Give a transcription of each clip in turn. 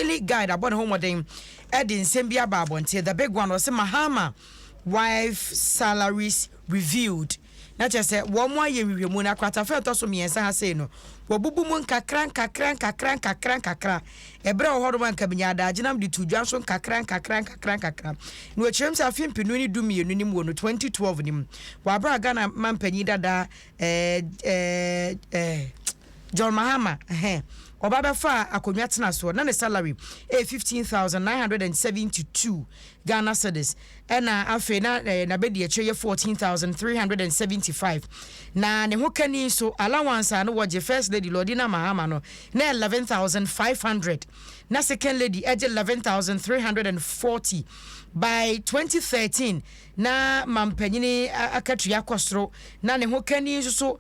Daily Guide abɔ ne ho mmɔden de nsɛm bi aba abɔnten. The Big One, wɔse Mahama wife salaries revealed. Na kyerɛ sɛ wɔn ayɛ nhwehwɛmu na akratafa a ɛtɔ so mmiɛnsa ha sei no, wɔabubu mu nkakra nkakra nkakra nkakra nkakra. Ɛberɛ wɔ hɔnom a nka menyaa adagyenam de too dwa nso nkakra nkakra nkakra nkakra. Na wɔ kyerɛm sɛ afe mpenu ne du mmienu no mu wɔ no 2012 no mu, wɔ aberɛ a Ghana mampanyin dada eh, eh, eh, John Mahama ɛhɛ ɔba bɛfaa akonnwa tena soɔ na ne salary ɛyɛ fifteen thousand nine hundred and seventy two Ghana cedis ɛna afei na ɛɛ n'abɛdiakyire yɛ fourteen thousand three hundred and seventy five na ne ho kani nso allowance a no wɔgye first lady Lordina Mahama no na eleven thousand five hundred na second lady ɛgye eleven thousand three hundred and forty by twenty thirteen na mampanyini akatua kɔ soro na ne ho kani nso so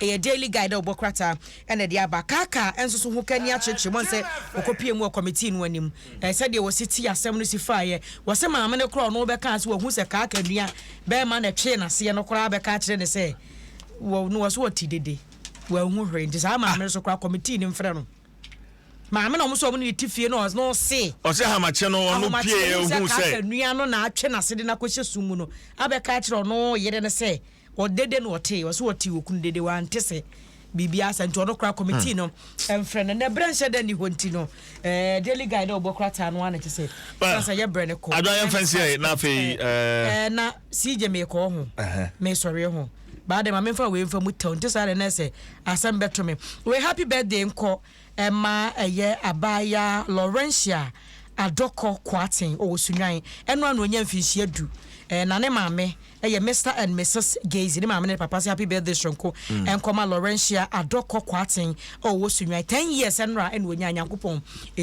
Ɛyɛ Daily Guide a wɔbɔ krataa na ɛde aba. Kaka nso so ho kani akyerɛkyerɛ mu sɛ ɔkɔpuee mu wɔ kɔmitii no anim. Sɛdeɛ wɔsi ti asɛm no si faeɛ, wɔse maame no koraa a ɔno bɛkaa sɛ wahu sɛ Kaka nua barima na ɛtwee n'aseɛ no koraa bɛka akyerɛ no sɛ wɔ no wɔse ɔte dede, wanhu hwee. Nti saa maame no so koraa kɔmitii no mfrɛ no. Maame na wɔn so wɔn ne no te fie no ɔs no ɔse. Ɔse ahomakye no ɔno puee ɔhuu sɛ. Kaka nua no na atwe n'asede no akɔhyɛ sum mu no abɛka akyerɛ ɔno yere no sɛ Wɔ dede na ɔtee, ɔse ɔtee okunu dede, wante se biribiara sa nti ɔno koraa committee no mfrɛ no, na berɛ nhyɛ da nni hɔ nti no eh, daily guy dɛ ɔbɔ krataa no ara na kyese san sa yɛ berɛ no kɔ. Adwa yɛmfa nsi ɛyɛ na afei eh, eh. Eh, na CJ mekɔ ɔho, mesɔre ɔho, baa dɛ ma memfa wei mfa mu tɛw nti saa dɛ na ɛsɛ asɛm bɛto me wei. Happy birthday nkɔ ɛma ɛyɛ abaayaa Laurentia Adɔkɔ Kwarteng ɔwɔ Sunnwan, ɛno a na ɔnya mfinhyia du eh, na ne maame. Ɛyɛ Mister and Misus Gazy ne maame ne ne papa se happy birthday soronko nkɔma Laurentia Adɔkɔ Kwarteng a ɔwɔ Sunnwan. Ten years nnora na ɔnya, Nyankopɔn nhyira wo.